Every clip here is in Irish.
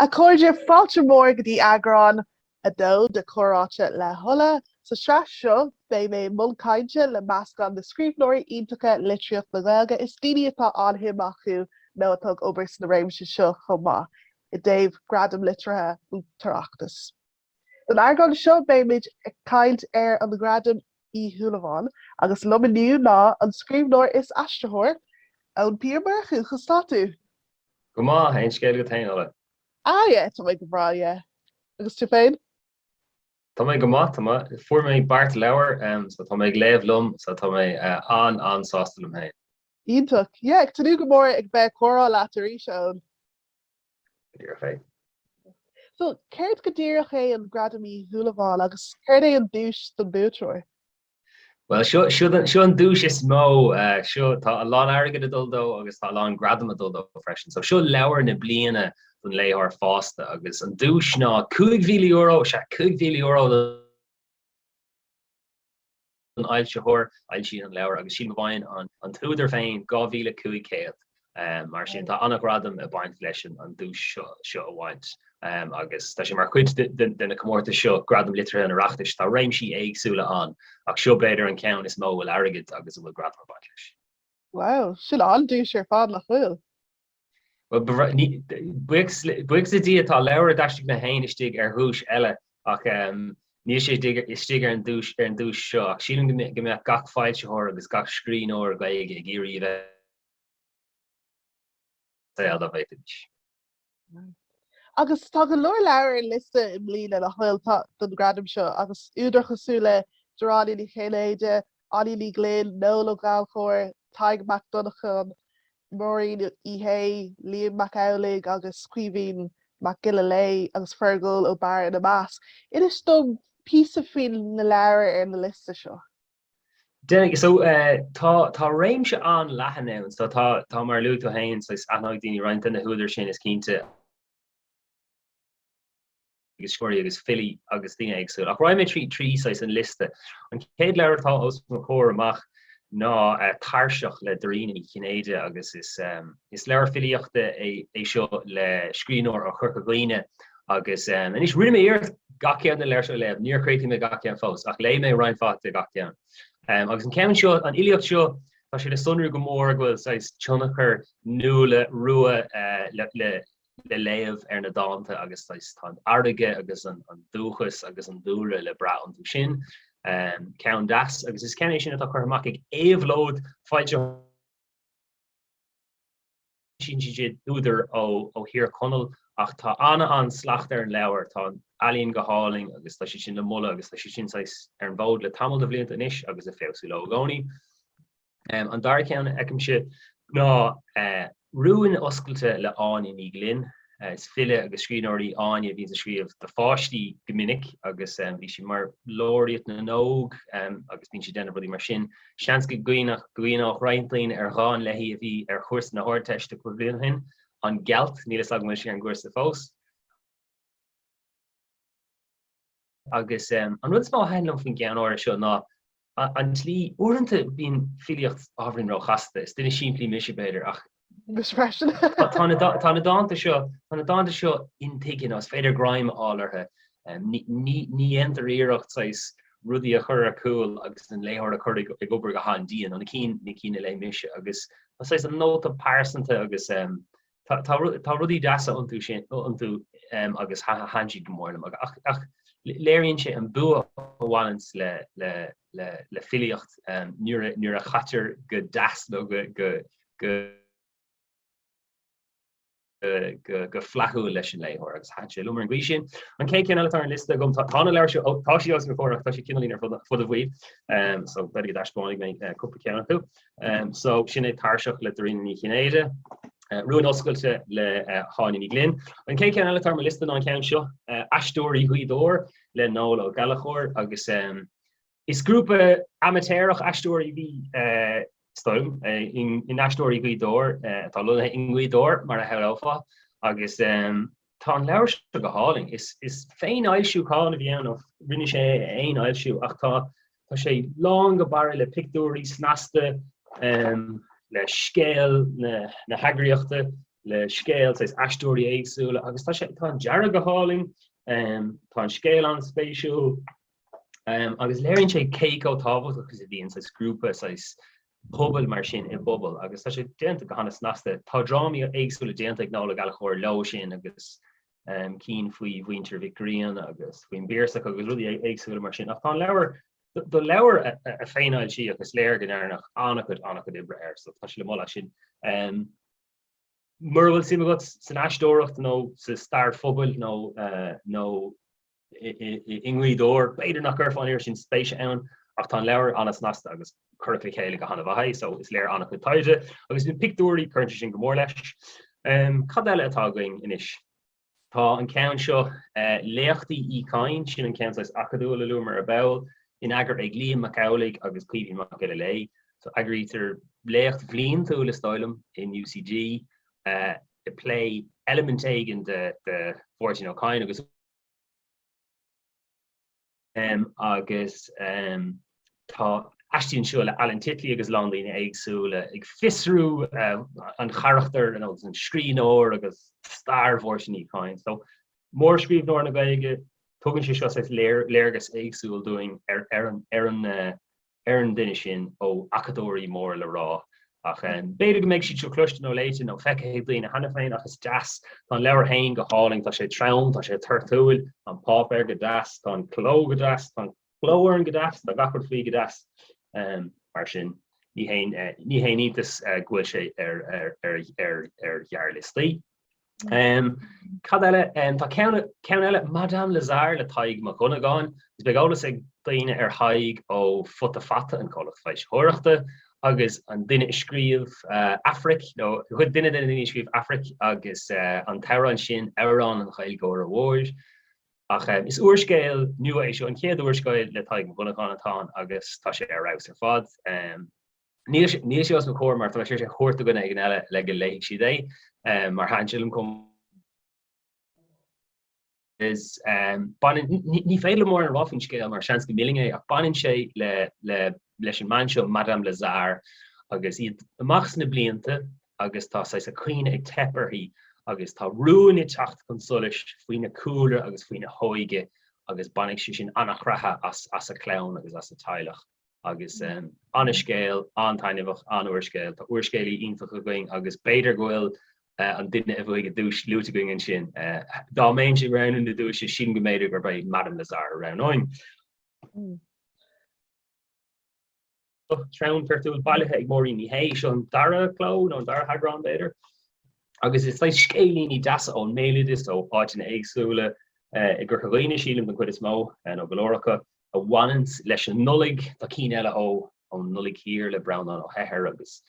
A chairde, fáilte mhór go dtí eagrán 2 de Comhráite le hOla. Sa tsraith seo, beidh mé i mbun cainte le meascán de scríbhneoirí iontacha litríocht na Gaeilge is daoine atá an-shuim acu, nó atá ag obair sna réimse seo chomh maith, i dtaobh Gradaim Liteartha an tOireachtais. Don eagrán seo beimid ag caint ar an Gradam Uí Shúilleabháin agus liom inniu ná an scríbhneoir is aistritheoir, Eoin P. Ó Murchú. Conas tá tú? Go maith, aon scéal agat féin, Ola? Ah yeah, tá mé go breá, yeah. Agus tú féin? Tá mé go maith, tá mé. Fuair mé beart leabhar, em, so tá mé ag léamh liom, so tá mé eh, an an sásta liom féin. Iontach, yeah, ag tnúth go mór ag bheith comhrá leat arís, Eoin. go díreach é. So, céard go díreach é an Gradam Uí Shúilleabháin agus céard é an duais don buaiteoir? Bhuel, seo an duais is mó. Seo, tá a lán airgid ag dul dó agus tá a lán gradam ag dul dó freisin. So, seo leabhar na bliana don léitheoir fásta agus an duais ná €5,000, sea, €5,000 don. an fhoilsitheoir a fhoilsíonn an leabhar agus sílim go bhfaigheann an t-údar féin 2,500. Mar sin, tá an-ghradam ag baint leis an duais seo a bhaint agus tá sé mar chuid de na comórtais seo, Gradaim Liteartha an Oireachtais. Tá réimsí éagsúla ann ach seo, b'fhéidir, an ceann is mó a bhfuil airgead agus a bhfuil gradam ag baint leis. Wow, sin an-duais ar fad nach bhfuil? Buíochas le Dia, tá leabhar a d'aistrigh mé féin istigh ar dhuais eile ach níl sé istigh ar an duais seo ach sílim go mbeadh gach foilsitheoir agus gach scríbhneoir Gaeilge ag iarraidh a bheith i saol dá bhféadfaidís. Agus tá go leor leabhar ar liosta i mbliana le hailt don ghradam seo agus údair cosúil le Dairena Ní Chinnéide, Áine Ní Ghlinn, Noel Ó Gallchóir, Tadhg Mac Dhonnagáin, Máirín Uí Shé, Liam Mac Amhlaigh agus Caoimhín Mac Giolla Léith, agus Feargal Ó Béarra ina measc. Inis dom píosa faoi na leabhair ar na liosta seo. Déanfaidh, so, tá, tá réimse an-leathan ann. So, tá, tá, mar a luaigh tú féin, so, aithneoidh daoine roinnt de na húdair sin, is cinnte. agus scoláirí agus filí agus daoine éagsúla. Ach raghaidh mé tríd trí saghas an liosta. An chéad leabhar atá os mo chomhair amach ná Tairseach le Dairena Ní Chinnéide agus is leabhar filíochta é seo le scríbhneoir ó Chorca Dhuibhne agus anois rinne mé iarracht gach ceann de na leabhair seo a léamh. Níor chríochnaigh mé gach ceann fós ach léigh mé roinnt mhaith de gach ceann. Agus an ceann seo, an fhilíocht seo, tá sé le sonrú go mór go bhfuil saghas tionchar Nuala Rua le léamh ar na dánta agus tá an fharraige agus an dúchas agus an dúlra le brath iontu sin. Ceann deas agus is ceann é sin atá curtha amach ag Éabhlóid foilsíonn siad údair ó Thír Chonaill ach tá an-slacht ar an leabhar, tá an ealaín go hálainn agus tá siad sin le moladh agus tá siad sin saghas ar an bhfód le tamall de bhlianta anois agus ag feabhsú leo i gcónaí. An dara ceann a fheicimse ná Rúin Oscailte le hÁine Ní Ghlinn. Is file agus scríbhneoir í Áine a bhíonn ag scríobh do pháistí go minic agus bhí sí mar Laureate na nÓg agus bíonn sí ag déanamh rudaí mar sin. Seans go gcuimhneodh roinnt daoine ar dhán léi a bhí ar chúrsa na hArdteiste cúpla bliain ó shin, 'An Gealt', níl a fhios agam an bhfuil sí ar an gcúrsa fós. Agus an rud is mó a thaitin liom faoin gceann áirithe seo ná an tslí, uaireanta bíonn filíocht ábhairín róchasta, is duine simplí mise b'fhéidir ach tá na tá na dánta seo tá na dánta seo intuigthe nó is féidir greim a fháil orthu. Ní ní dhéantar iarracht saghas rudaí a chur ar cúl agus an léitheoir a chur ag obair go han-dian, ó na cinn na cinn a léigh mise agus tá saghas an nóta pearsanta agus Tá rudaí deasa iontu agus thaitin siad go mór liom ach léiríonn sé an bua a bhaineann le filíocht nuair a chaitear go deas nó go flaithiúil leis an léitheoir agus thaitin sé liom ar an gcaoi sin. An chéad cheann eile atá ar an liosta agam, tá na leabhair seo, tá siad os mo chomhair ach tá siad cineáilín ar fud an bhaill so b'fhéidir go dtaispeánfaidh mé cúpla ceann acu. so sin é Tairseach le Dairena Ní Chinnéide, Rúin Oscailte le hÁine Ní Ghlinn. An chéad cheann eile atá ar mo liosta ná an ceann seo, Aisteoirí Ghaoth Dobhair le Noel Ó Gallachóir agus is grúpa amaitéarach aisteoirí bhí is dóigh liom in Aisteoirí Ghaoth Dobhair atá lonnaithe i nGaoth Dobhair mar a shamhlófá agus Tá an leabhar seo go hálainn. Is féinfhoilsiúchán a bhí ann, nó rinne sé é a fhéinfhoilsiú, ach tá sé lán go barra le pictiúirí snasta, le scéal na heagraíochta, le scéal saghas aisteoirí éagsúla agus tá an dearadh go hálainn, tá an scéal an-spéisiúil. agus léiríonn sé cé chomh tábhachtach is a bhíonn saghas grúpa, saghas pobail mar sin i bpobal agus tá sé déanta go han-snasta. Tá drámaí éagsúla déanta ag Noel Ó Gallachóir leo sin agus cinn faoi mhuintir Mhic Grianna agus faoin bPiarsach agus rudaí éagsúla mar sin ach tá an leabhar, do leabhar a féinfhoilsíodh ach is léir go ndearnadh an-chuid, an-chuid oibre air so tá sé le moladh as sin. Mura bhfuil suim agat san aisteoireacht nó sa stair phobail nó i nGaoth Dobhair. B'fhéidir nach gcuirfeá an oiread sin spéise ann ach tá an leabhar an-snasta agus curtha le chéile go han-mhaith so is léir an-chuid taighde agus na pictiúirí cuireann sé sin go mór leis. Cad eile atá againn anois? Tá an ceann seo, Léachtaí Uí Chadhain, sin an ceann saghas acadúil a luamar ar ball, in eagar ag Liam Mac Amhlaigh agus Caoimhín Mac Giolla Léith. So eagraítear léacht bliantúil is dóigh liom in UCD ag plé eilimint éigin de Mháirtín Ó Cadhain agus agus tá aistí anseo le Alan Titley agus a lán daoine éagsúla ag fiosrú an charachtair an scríbhneoir agus stair Mháirtín Uí Chadhain. So mórscríbhneoir na Gaeilge, tugann sé seo léargas éagsúil dúinn ar an ar an duine sin ó acadóirí mór le rá. Ach b'fhéidir go mbeidh siad seo cloiste nó léite nó feicthe ag daoine cheana féin ach is deas. Tá an leabhar féin go hálainn, tá sé trom, tá sé toirtiúil, tá an páipéar go deas, tá an cló go deas, tá an cló orthu go deas, tá gach rud faoi go deas. Mar sin ní haon iontas go bhfuil sé ar ghearrliostaí. Cad eile? Tá ceann eile, Madame Lazare le Tadhg Mac Dhonnagáin. Is beidh eolas ag daoine ar Thadhg ó Futa Fata, an comhlacht foilsitheoireachta, agus an duine a scríobh Aifric, nó go duine de na daoine a scríobh Aifric agus an t-amhrán sin, Amhrán an Ghaeilgeora Mhóir. Ach is úrscéal nua é seo, an chéad úrscéal le Tadhg Mac Dhonnagáin atá ann agus tá sé ar fheabhas ar fad. Níl sé os mo chomhair mar tá sé tabhartha agam do dhuine éigin eile le go léifidís é, mar thaitin sé liom chomh maith. Is baineann, ní féidir liom mórán a rá faoin scéal mar seans go millfinn é, ach baineann sé le leis an mbean seo, Madame Lazare, agus í amach sna blianta agus tá saghas a cuimhne ag teip uirthi agus tá rúin ag teacht chun solais faoina cúlra agus faoina hóige agus baineann sé sin an-chroitheadh as a clann agus as a teaghlach. agus an scéal an-taitneamhach, an t-úrscéal. Tá úrscéalaí iontacha againn agus b'fhéidir go bhfuil an duine a bhfaigheadh duais luaite againn ansin. Dá mbeinn ag roghnú na duaise sin go mb'fhéidir gurb é Madame Lazare a roghnóinn. Treabhsar an Phártánaigh bailithe ag Máirín Ní Shé. Seo an dara cló nó an dara heagrán, b'fhéidir, agus is saghas scéilíní deasa ón mbéaloideas, ó áiteanna éagsúla i gCorca Dhuibhne, sílim, den chuid is mó, nó go leor acu. a bhaineann leis an Nollaig. Tá cinn eile, Ó, An Nollaig Thiar le Breandán Ó hEithir agus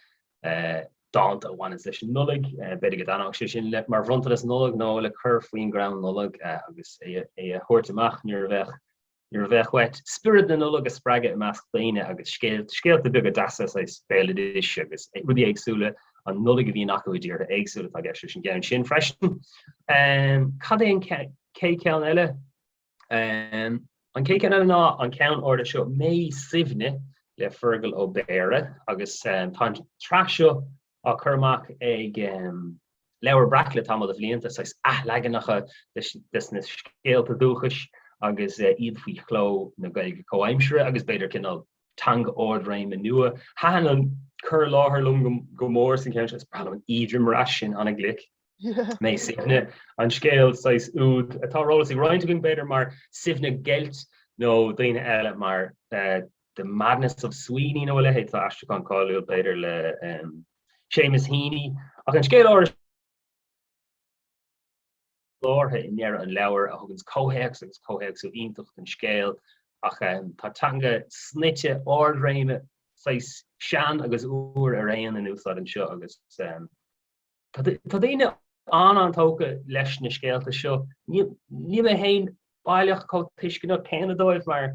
dánta a bhaineann leis an Nollaig. B'fhéidir go dtaitneodh sé sin le mar bhronntanas Nollag nó le cur faoin gcrann Nollag agus é a thabhairt amach nuair a bheadh uait spiorad na Nollag a spreagadh i measc daoine agus scéalta beaga deasa, saghas béaloidis agus rudaí éagsúla ón Nollaig a bhíonn acu i dtíortha éagsúla, tá i gceist leis an gceann sin freisin. Cad é an chéad cheann eile? An cé ceann eile ná an ceann órga seo, Mé Suibhne le Feargal Ó Béarra agus tá an tsraith seo á chur amach ag Leabhar Breac le tamall de bhlianta, saghas athleaganacha des na scéalta dúchais agus iad faoi chló na Gaeilge comhaimseartha agus b'fhéidir cineál teanga ardréime nua. Thaitin an cur i láthair liom go mór san cheann seo, is breá liom an t-imeartas sin, ana-ghlic. Mé Suibhne, an scéal saghas úd atá ar eolas ag roinnt againn b'fhéidir mar Suibhne Geilt nó daoine eile mar The Madness of Sweeney nó a leithéid, tá aistriúchán cáiliúil b'fhéidir le Seamus Heaney ach an scéal á, iarfhocal i ndeireadh an leabhair a thuganns comhthéacs agus comhthéacsú iontach don scéal ach tá teanga snoite ardréime saghas sean agus úr araon in úsáid anseo agus Tá daoine an-tógtha leis na scéalta seo. Níl mé féin baileach chomh tuisceanach céanna dóibh mar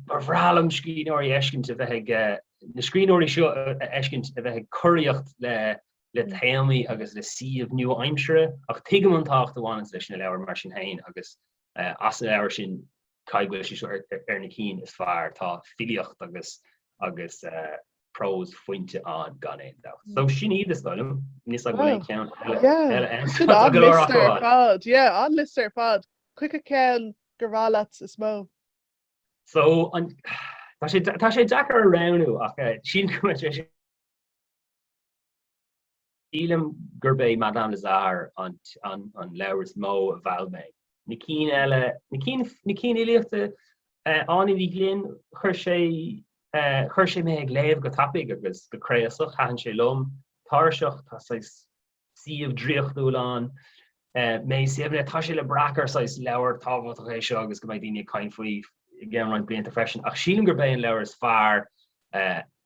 ba bhreá liom scríbhneoirí a fheiscint a bheith, na scríbhneoirí seo a fheiscint a bheith ag curaíocht le téamaí agus le suímh nua-aimseartha ach tuigim an tábhacht a bhaineas leis na leabhair mar sin féin agus as na leabhair sin Caithfidh go bhfuil sé seo ar na cinn is fearr? Tá filíocht agus agus prós fuinte ann gan aon dabht. So sin iad is dóigh liom. Níl fhios agam an bhfuil aon cheann eile ann. Sin an liosta ar fad. Yeah, an liosta ar fad. Cé acu ceann gur fearr leat is mó. So an tá sé deacair a roghnú ach sílim go mbeidh sé. Sílim gurb é Madame Lazare an leabhar is mó a mheall mé. Na cinn eile, na cinn fhilíochta, Áine Ní Ghlinn, chuir sé, chuir sé mé ag léamh go tapaidh agus go craosach, thaitin sé liom, Tairseach, tá saghas suíomh draíochtúil ann, Mé Suibhne, tá sé le brath gur saghas leabhar tábhachtach é seo agus go mbeidh daoine ag caint faoi i gceann roinnt blianta freisin, ach sílim gurb é an leabhar is fearr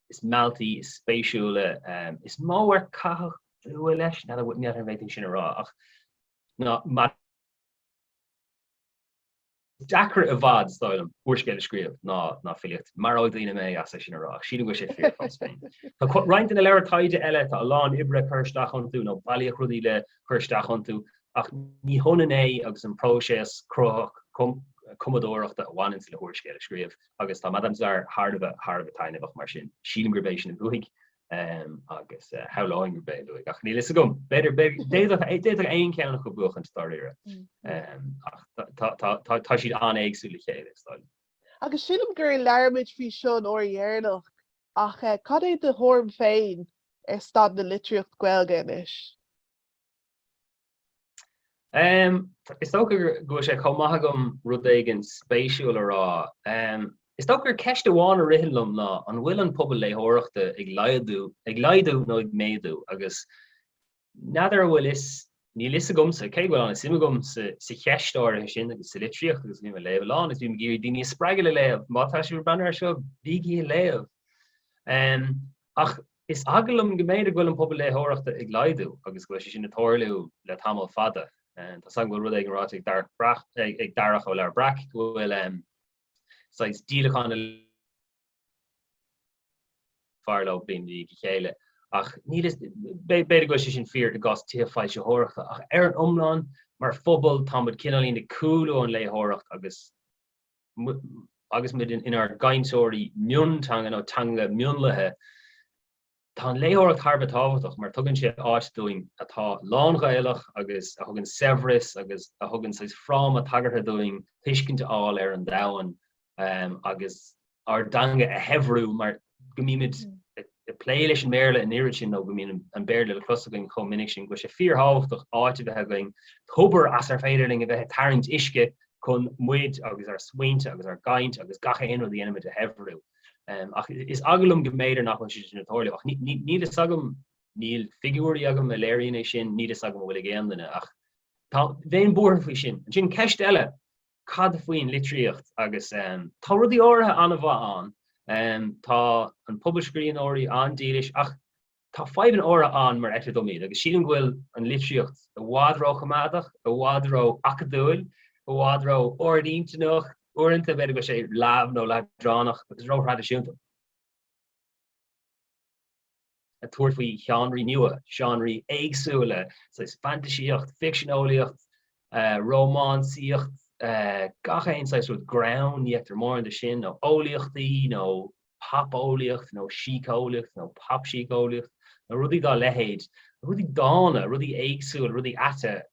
is mealltaí, is spéisiúla, is mó ar caitheadh dua leis, ní fheadar an féidir é sin a rá ach is deacra i bhfad, is dóigh liom, úrscéal a scríobh ná ná filíocht. Maróidh daoine mé as é sin a rá ach sílim go bhfuil sé fíor fós féin. Tá roinnt de na leabhair taighde eile, tá a lán oibre curtha isteach iontu nó bailíodh rudaí le cur isteach iontu ach ní hionann é agus an próiseas cruthaitheach cumadóireachta a bhaineann le húrscéal a scríobh. Agus tá Madame Lazare thar a bheith, thar a bheith taitneamhach mar sin. Sílim gurb é sin a bhuafaidh agus shamhláinn gurb é a bhuafaidh ach níl a fhios agam. B'fhéidir, b'fhéidir, d'fhéadfadh aon cheann acu buachaint dáiríre ach tá, tá siad an-éagsúil le chéile, is dóigh liom. Agus sílim gur labhraímid faoi seo an uair dheireanach ach cad é do thuairim féin ar staid na litríocht Gaeilge anois? Umm, is dócha go bhfuil sé chomh maith agam rud éigin spéisiúil a rá. Umm, is dócha gur ceist amháin a ritheann liom ná an bhfuil an pobal léitheoireachta ag laghdú, ag laghdú nó ag méadú? Agus n'fheadar a bhfuil fhios, níl fhios agamsa cé go bhfuil an-suim agam sa, sa cheist áirithe sin agus sa litríocht agus bím ag léamh a lán is bím ag iarraidh daoine a spreagadh le léamh. Má tá sibh ag breathnú air seo, bígí ag léamh. Umm, ach Is eagal liom go mb'fhéidir go bhfuil an pobal léitheoireachta ag laghdú agus go bhfuil sé sin ag tarlú le tamall fada. Tá a fhios agam go bhfuil rud éigin ráite ag Darach ó Leabhar Breac go bhfuil saghas díolacháin ag fás leo bliain i ndiaidh a chéile ach b'fhéidir go bhfuil sé sin fíor i gcás tithe foilsitheoireachta ach ar an iomlán mar phobal táimid cineáilín ag cúlú ón léitheoireacht agus agus muid inár gcainteoirí mionteanga nó teanga mionlaithe, Tá an léitheoireacht thar a bheith tábhachtach mar tugann sé áit dúinn atá lán-Ghaelach agus a thugann saibhreas agus a thugann saghas fráma tagartha dúinn tuiscint a fháil ar an domhan agus ár dteanga a shaibhriú mar go mbímid ag plé leis an mBéarla an oiread sin nó go mbíonn an Béarla le clos againn chomh minic sin go bhfuil sé fíorthábhachtach áit a bheith againn, tobar as ar féidir linn a bheith ag tarraingt uisce chun muid agus ár smaointe agus ár gcaint agus gach aon rud a dhéanaimid a shaibhriú. Ach is eagal liom go mb'fhéidir nach bhfuil sé sin ag tarlú ach níl fhios agam, níl figiúirí agam a léiríonn é sin, níl fhios agam an bhfuil ag aon duine ach tá, bheinn buartha faoi sin. Ansin ceist eile, cad faoin litríocht agus tá rudaí áirithe an-mhaith ann. Tá an pobal scríbhneoirí an-dílis ach tá fadhbanna áirithe ann mar a fheictear dom iad agus sílim go bhfuil an litríocht i bhfad róchoimeádach, i bhfad ró-acadúil, i bhfad ró-ard-intinneach, uaireanta b'fhéidir go bhfuil sé leamh nó leadránach agus róthraidisiúnta. ag tabhairt faoi sheánraí nua, seánraí éagsúla, saghas fantaisíocht, ficsean eolaíochta, rómánsaíocht, gach aon saghas rud, greann, ní fheictear mórán de sin, nó eolaíochtaí, nó pop-eolaíocht, nó síceolaíocht, nó pop-síceolaíocht, nó rudaí dá leithéid, rudaí dána, rudaí éagsúla, rudaí aite.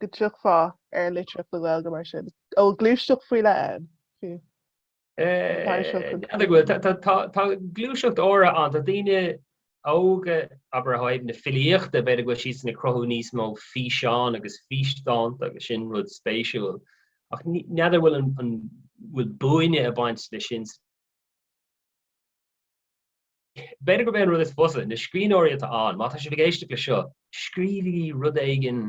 go dtiocfá ar litríocht na Gaeilge mar sin, a bhfuil gluaiseacht faoi leith ann, fiú. Cad a bhfuil, tá gluaiseacht úr ann, tá daoine óga, abair, ó thaobh na filíochta, b'fhéidir go bhfuil siadsan ag cruthú níos mó físeán agus físdánta agus sin rud spéisiúil, ach n'fheadar bhfuil an, bhfuil buaine ag baint le sin sa. B'fhéidir gurb é an rud is fusa, na scríbhneoirí atá ann, má tá sibh ag éisteacht le seo, scríobhaigí rud éigin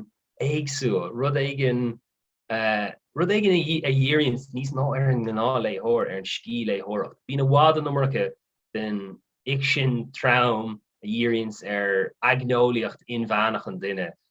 éagsúil, rud éigin rud éigin a dhíríonns níos mó ar an ngnáthléitheoir, ar an scíthléitheoireacht. Bíonn i bhfad an iomarca den fhicsean trom a dhíríonns ar aigneolaíocht inmheánach an duine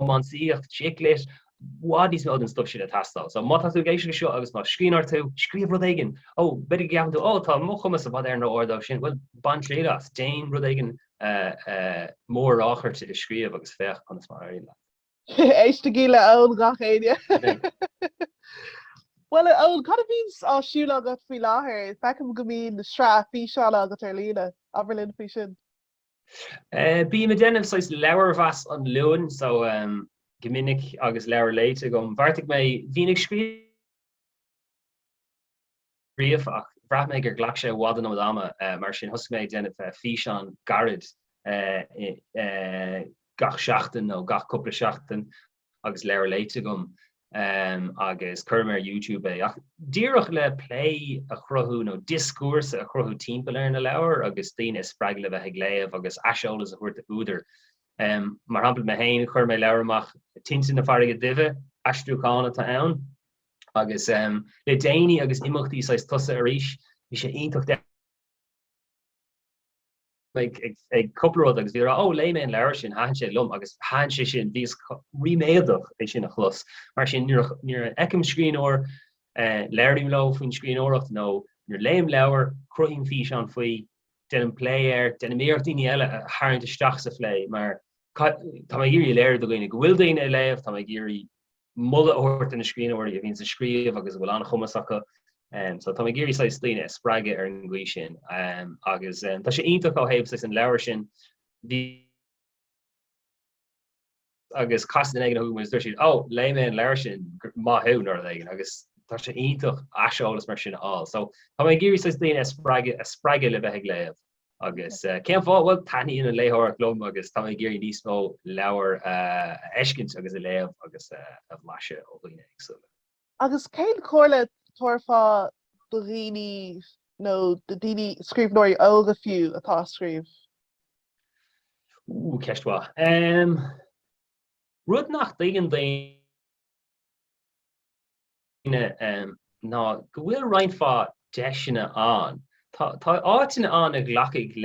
rómánsaíocht, chick lit, i bhfad níos mó den stuif sin ag teastáil. So, má tá tú ag éisteach anseo agus más scríbhneoir tú, scríobh rud éigin! Ó, b'fhéidir go gceapann tú, Ó, tá mo chumas i bhfad ar an ardán sin. Bhuel, bain triail as, déan rud éigin mór-ráchairte a scríobh agus féach conas mar a éiríonn leat. Éistigí le hEoin, gach éinne! Bhuel, a Eoin, cad a bhíonns ar siúl agat faoi láthair? Feicim go mbíonn sraith físeán agat ar líne. Abair linn faoi sin. Bím ag déanamh saghas leabharmheas an Luain so go minic agus leabhar léite agam. Bheartaigh mé, bhínn ag scríobh ríomh ach bhraith mé gur ghlac sé i bhfad an iomad ama mar sin thosaigh mé ag déanamh físeáin ghairid gach seachtain nó gach cúpla seachtain. agus leabhar léite agam agus cuirim ar YouTube é ach díreach le plé a chruthú nó dioscúrsa a chruthú timpeall ar na leabhair agus daoine a spreagadh le bheith ag léamh agus aiseolas a thabhairt chuig údair. Mar shampla mé féin chuir mé leabhar amach Tinte na Farraige Duibhe, aistriúchán atá ann agus le déanaí agus imeachtaí saghas tosaithe arís bhí sé iontach ag cúpla rud agus bhí ag rá ó léigh mé an leabhar sin thaitin sé liom agus thaitin sé sin bhíos ríméadach é sin a chlos mar sin nuair a fheicim scríbhneoir labhraím leo faoin scríbhneoireacht nó nuair léim leabhar cruthaím físeán faoi déanaim plé air déanaim iarracht daoine eile a tharraingt isteach sa phlé mar tá mé ag iarraidh a léiriú do dhaoine go bhfuil daoine ag léamh tá mé ag iarraidh moladh a thabhairt do na scríbhneoirí a bhíonn ag scríobh agus a bhfuil an-chumas acu. So tá mé ag iarraidh saghas daoine a spreagadh ar an gcaoi sin agus tá sé iontach ó thaobh saghas an leabhair sin, bhí, agus casann duine éigin chugat agus dúirt siad, 'Ó, léigh mé an leabhar sin, maith thú, nó rud éigin. Agus tá sé iontach aiseolas mar sin a fháil. So tá mé ag iarraidh saghas daoine a spreagadh, a spreagadh le bheith ag léamh. Agus cén fáth? Bhuel, taitníonn an léitheoireacht liom agus tá mé ag iarraidh níos mó leabhar a fheiscint agus a léamh agus a bhlaiseadh ó dhaoine éagsúla. Agus cén chomhairle a thabharfá do dhaoine nó do dhaoine, scríbhneoirí óga fiú, atá ag scríobh? Ú, ceist mhaith. Rud nach dtuigeann daoine. ná go bhfuil roinnt mhaith deiseanna ann. Tá áiteanna ann a ghlacfaidh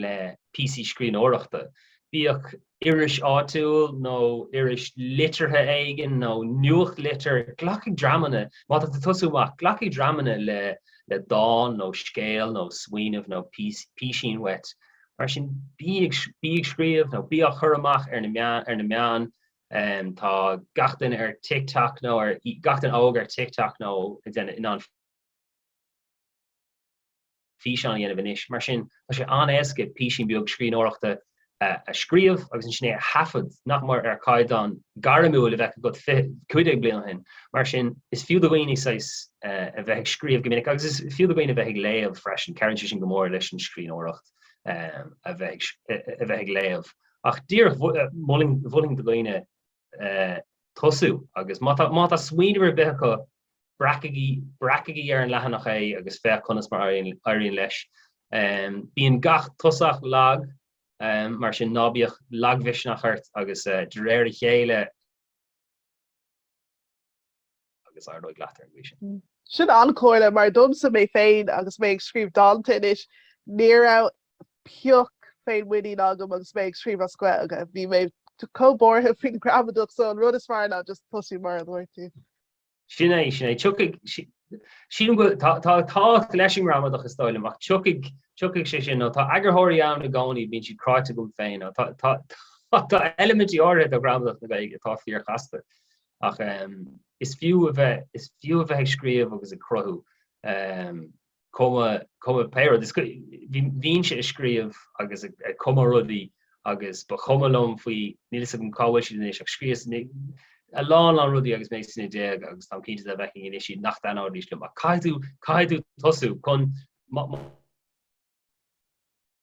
le píosaí scríbhneoireachta, bíodh iris áitiúil nó iris liteartha éigin nó nuachtlitir, glacfaidh dreamanna, má tá tú ag tosú amach, glacfaidh dreamanna le dán nó scéal nó smaoineamh nó písín uait. Mar sin, bí ag scríobh nó bí á chur amach ar na meáin. Tá gach duine ar TikTok nó ar, gach duine óg ar TikTok nó a déanamh, in ann físeáin a dhéanamh anois. Mar sin, tá sé an-éasca písín beag scríbhneoireachta a scríobh agus ansin é a thaifead, nach mór ar chaighdeán gairmiúil a bheadh agat 15 bliain ó shin. Mar sin, is fiú do dhaoine saghas a bheith ag scríobh go minic agus is fiú do dhaoine a bheith ag léamh freisin. Cabhraíonn sé sin go mór leis an scríbhneoireacht a bheith ag léamh ach díreach mholfainn do dhaoine tosú agus má tá smaoineamh ar bith acu, breacaigí ar an leathanach é agus féach conas mar a éiríonn leis. Bíonn gach tosach lag, mar sin ná bíodh lagmhisneach ort agus de réir a chéile, agus éireoidh leat ar an gcaoi sin. Sin an-chomhairle, mar domsa mé féin agus mé ag scríobh dánta anois, ní raibh pioc féinmhuiníne agam agus mé ag scríobh as Gaeilge. Bhí mé chomh buartha faoin ghramadach so an rud is fearr ná just tosú mar a dúirt tú. Sin é, sin é. Tiocfaidh, sílim go, tá, tá tábhacht leis an ngramadach is dóigh liom ach tiocfaidh, tiocfaidh sé sin. Nó tá eagarthóirí ann i gcónaí, bíonn siad cráite agam féin. Nó tá, tá, tá eilimintí áirithe de ghramadach na Gaeilge atá fíor-chasta. Ach is fiú a bheith is fiú a bheith ag scríobh agus ag cruthú. cuma pé rud. Bhínnse ag scríobh agus ag cumadh rudaí agus ba chuma liom faoi, níl fhios agam cá bhfuil siad anois ach scríos a lán lán rudaí agus mé sna déaga agus táim cinnte dá bhfeicfinn anois iad nach dtaitneoidís liom ach caithfidh tú caithfidh tú tosú chun